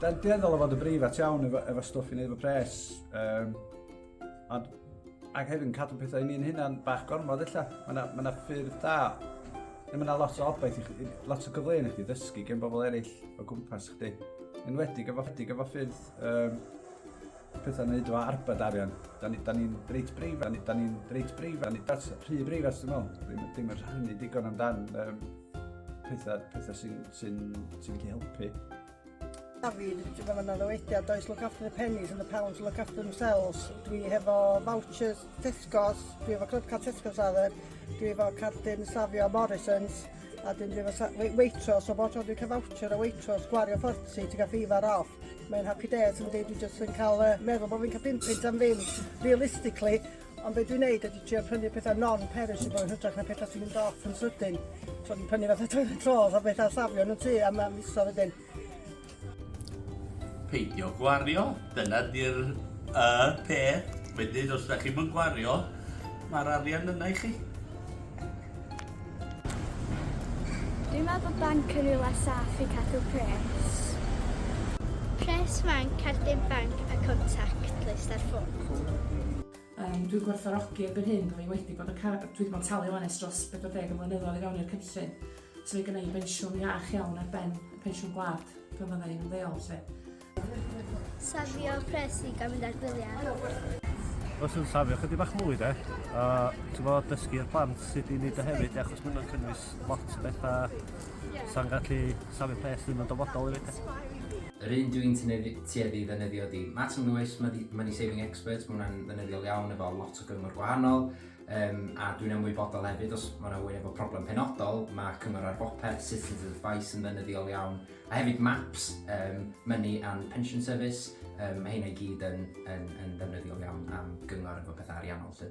Da ni'n dueddol o fod yn breifat iawn efo, efo stwff i wneud efo pres. Um, ond, ac hefyd yn cadw pethau i ni'n hynna'n bach gormod illa. Mae yna ma na ffyrdd da. Mae yna lot o obaith i chi, lot o gyfleoedd i chi ddysgu gen bobl eraill o gwmpas chdi. Yn wedig efo, wedig efo ffyrdd um, pethau wneud efo arbed arian. Da ni, da ni'n reit breifat, da ni, da ni'n reit breifat, da ni that's rhy breifat dwi'n meddwl. Ddim, ddim yn rhannu digon amdan um, pethau, pethau sy'n sy sy gallu helpu. David, ti'n meddwl yna ddywediad, does look after the pennies and the pounds look after themselves. Dwi hefo vouchers Tesco's, dwi hefo club card Tesco's ar adden, dwi hefo cardyn safio Morrison's, a dwi hefo Waitrose, o bod tro dwi'n cael voucher o Waitrose, gwario 40, ti'n cael fifa off. Mae'n happy days yn deud dwi jyst yn cael yy meddwl bod fi'n cael pum punt am ddim realistically ond be dwi'n neud ydy trio prynu pethau non-perishable yn hytrach na pethau sy'n mynd off yn sydyn. So dwi'n prynu fatha toilet rolls a pethau safio yn y tŷ am am misoedd wedyn. Peidio gwario, dyna di'r y peth. Wedyn os 'dach chi'm yn gwario, ma'r arian yna i chi. Dwi'n meddwl bod banc yn rhywle saff i cadw pres. Pres fanc, cardyn banc a contact list ar ffôn. Um, dwi'n gwerthorogi erbyn hyn bod fi wedi bod yn cael, dwi wedi bod yn talu ONS dros 40 o flynyddoedd i fewn i'r cynllun. So mae gennau i bensiwn iach iawn ar ben y pensiwn gwlad pan fyddai'n ymddeol. Lle. Safio pres i gael mynd ar gwyliau. Os yn safio chydig bach mwy de, a ti'n fawr dysgu'r plant sut i wneud o hefyd, achos mae hwnna'n cynnwys lot o bethau sa'n gallu safio pres ddim yn dyfodol i fi. Yr un dwi'n tueddu i ddefnyddio di Matam Lewis, Money Saving Experts, mae hwnna'n ddefnyddiol iawn efo lot o gyngor gwahanol, um, a dwi'n ymwybodol hefyd os mae yna wyn efo problem penodol, mae cyngor ar bopeth, Citizens Advice yn ddefnyddiol iawn, A hefyd maps, um, Money and Pension Service, um, mae hynna i gyd yn, yn, yn ddefnyddiol iawn am gyngor efo pethau ariannol. Lle.